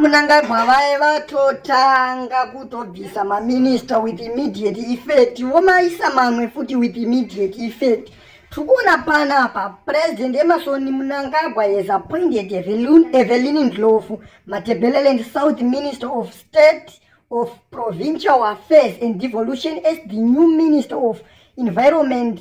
munangagwa vaye vatotanga kutobvisa maminista with immediate effect vomaisa mamwe futi with immediate effect tiri kuona pana apa purezidendi emasoni munangagwa has appointed evelini ndlofu matebeleland south minister of state of provincial affairs and devolution as the new minister of environment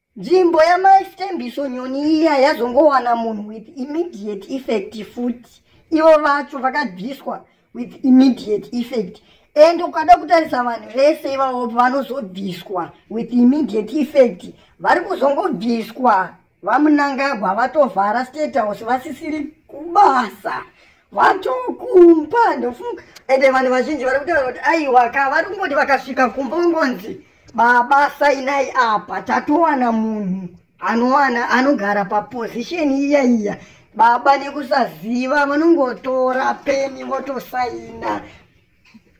nzvimbo yamai stembiso nyoni iya yazongowana munhu with immediate effect futi ivo vacho vakabviswa with immediate effect and ukada kutarisa vanhu vese ivavo vanozobviswa with immediate effect vari kuzongobviswa vamunangagwa vatovhara state house vasisiri kubasa vatokumba ndofunga ende vanhu vazhinji vari kutaura kuti aiwa ka vari kungoti vakasvika kumba ungonzi baba sainai apa tatowana munhu anowana anogara paposition iya iya baba nekusaziva vanongotora peni votosaina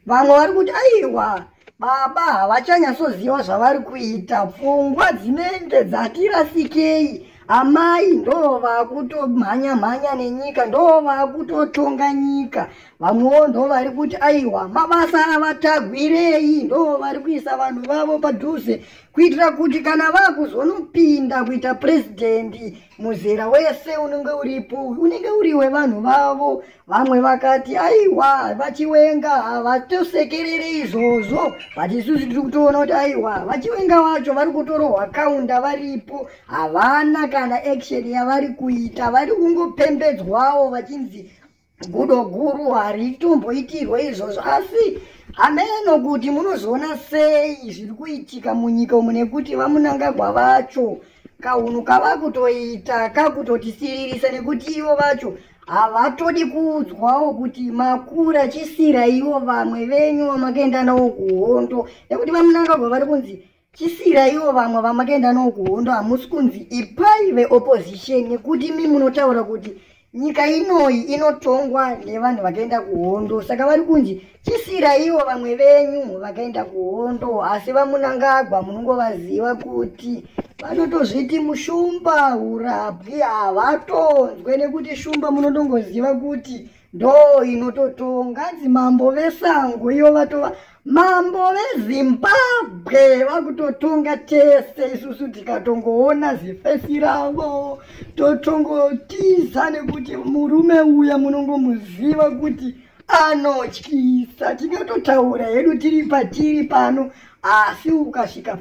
vamwe vari kuti aiwa baba havachanyatsoziva zvavari kuita pfungwa dzinenge dzatirasikei amai ndo vakutomhanya mhanya nenyika ndo vakutotonga nyika vamwewo ndo vari kuti aiwa mabasa avatagwirei ndo vari kuisa vanhu vavo padhuze kuitira kuti kana vakuzonopinda kuita purezidendi muzera wese unenge uripo unenge uri wevanhu vavo vamwe vakati aiwa vachiwenga havatosekerere izvozvo but isusu tiri kutoona kuti aiwa vachiwenga vacho vari kutorohwa kaunda varipo havana kana action yavari kuita vari kungopembedzwawo vachinzi gudo guru haritomboitirwe izvozvo asi hameno kuti munozoona sei zviri kuitika munyika umu nekuti vamunangagwa vacho kahunhu kava kutoita kakutotisiririsa nekuti ivo vacho havatodi kuudzwawo kuti makura chisira ivo vamwe venyu vamakaenda nawo kuhondo nekuti vamunangagwa vari kunzi chisira ivo vamwe vamakaenda noo kuhondo hamusi kunzi ipai veopposition nekuti mi munotaura kuti nyika inoyi inotongwa nevanhu vakaenda kuhondo saka vari kunzi chisira ivo vamwe venyu vakaenda kuhondo asi vamunangagwa munongovaziva kuti vanotozviti mushumba urapwi havatonzwe nekuti shumba munotongoziva kuti ndo inototonga hanzi mambo vesango iyo vatova mambo vezimbabwe vakutotonga tese isusu tikatongoona zifesi ravo totongotiza nekuti murume uya munongomuziva kuti anotyisa tingatotaura hedu tiri patiri pano asi ukasvika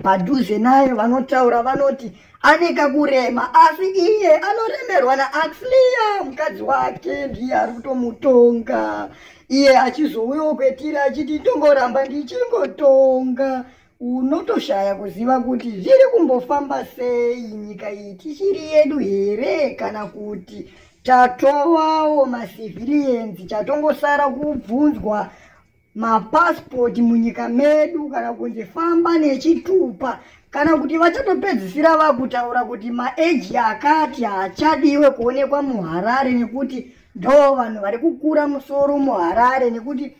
padhuze naye vanotaura vanoti ane kakurema asi iye anoremerwa naaxlia mukadzi wake ndiye ari kutomutonga iye achizouyawo kwetiri achiti ndongoramba ndichingotonga unotoshaya kuziva kuti zviri kumbofamba sei nyika iyi tichiri yedu here kana kuti tatovawo macivilians chatongosara kubvunzwa mapasipoti munyika medu kana kunzi famba nechitupa kana kuti vachatopedzisira vakutaura kuti maeji akati haachadiwe kuonekwa muharare nekuti ndo vanhu vari kukura musoro muharare nekuti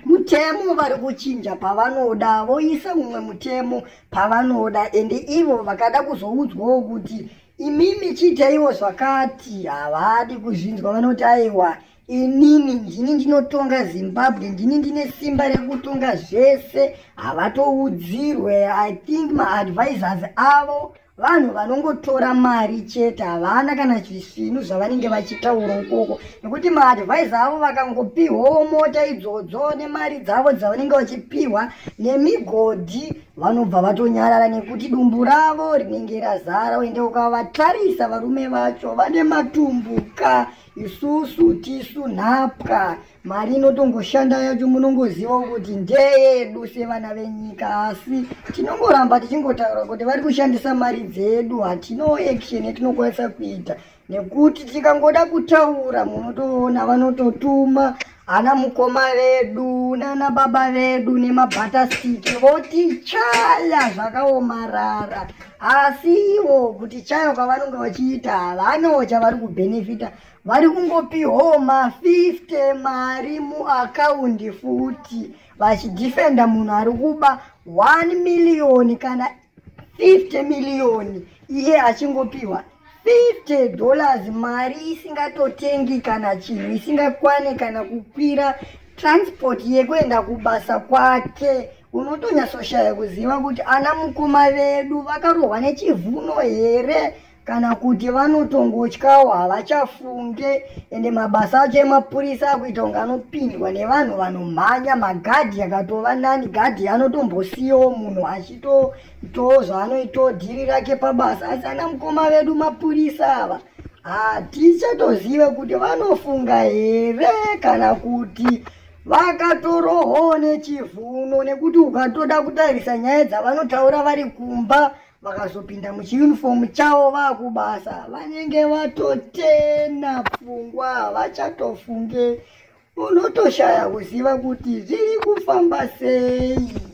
mutemo vari kuchinja pavanoda voisa umwe mutemo pavanoda ende ivo vakada kuzoudzwawo kuti imimi chiitaiwo zvakati havadi kuzvinzwa vanoti aiwa inini ndini ndinotonga zimbabwe ndini ndine simba rekutonga zvese havatoudzirwe i think maadvisors avo vanhu vanongotora mari chete havana kana zvisvinu zvavanenge vachitaura ukoko nekuti maadvise avo vakangopihwawo mota idzodzo nemari dzavo dzavanenge vachipihwa nemigodhi vanobva vatonyarara nekuti dumbu ravo rinenge razara uende ukavatarisa varume vacho vane matumbuka isusu tisu nhapwa mari inotongoshanda yacho munongoziva kuti ndeyedu sevana venyika asi tinongoramba tichingotaura kuti vari kushandisa mari dzedu hatino action yatinokwanisa kuita nekuti tikangoda kutaura munotoona vanototuma ana mukoma vedu nana baba vedu nemabhatastiki votichaya zvakaomarara asi ivo kutichaya kwavanonge vachiita havanawo chavari kubhenefita vari kungopiwawo ma50 mari muakaundi futi vachidhifenda munhu ari kuba 1 miriyoni kana 50 million iye achingopihwa 50 dollars mari isingatotengi kana chinhu isingakwane kana kukwira transport yekuenda kubasa kwake unotonyatsoshaya kuziva kuti ana mukoma vedu vakarohwa nechivhuno here kana kuti vanotongotyawo havachafunge ende mabasa acho emapurisa akuita kunge anopindwa nevanhu vanomhanya magadhi akatova nani gadhi anotombosiyawo munhu achitoitawo zvaanoitawo dhiri rake pabasa asi ana mukoma vedu mapurisa ava hatichatozive kuti vanofunga here kana kuti vakatorohoo nechivuno nekuti ukatoda kutarisa nyaya dzavanotaura vari kumba vakazopinda muchiunifomu chavo vakubasa vanenge vatotena pfungwa havachatofunge unotoshaya kuziva kuti zviri kufamba sei